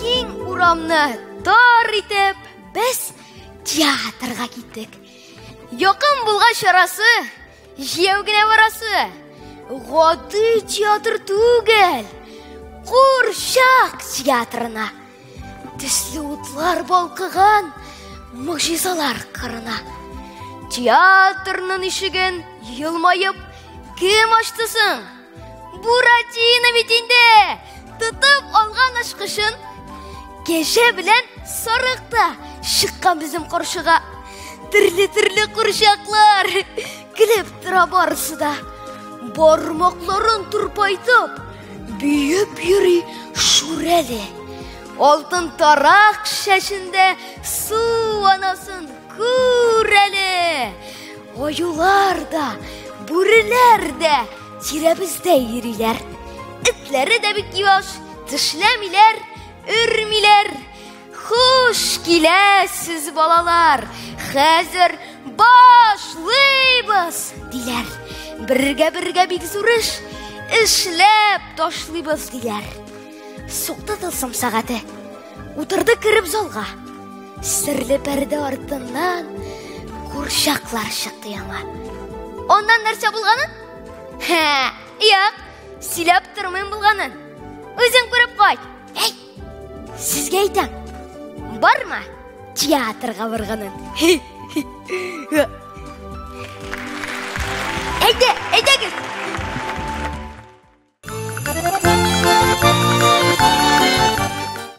Киң урамны тар итеп без театрга киттек. Якын булган чарасы җияү генә барасы. Гади театр түгел. Курчак театрына. Төсле утлар балкыган могҗизалар кырына. Театрның ишеген елмаеп кем ачты соң? Буратино бит инде! Тотып алган ашкышын кеше белән сарыкта чыккан безнең каршыга. Төрле-төрле курчаклар, Килеп тора барысы да. Бармакларын турпайтып, бүйеп йөри Шүрәле. Алтын тарак шәшендә су анасын күрәле. Аюлар да, бүреләр дә тирәбездә йөриләр. Этләре дә бик юаш, тешләмиләр, өрмиләр. Хуш киләсез, балалар! Хәзер башлыйбыз, диләр. Бергә-бергә бик зур эш эшләп ташлыйбыз, диләр. Сукты тылсым сәгате. Утырды кереп залга. Серле пәрдә артыннан курчаклар чыкты яңа. Аннан нәрсә булганын? Һә, юк, сөйләп тормыйм булганын. Үзең күреп кайт. Әй! Сезгә әйтәм, барма театрга барганын. Әйдә, әйдәгез.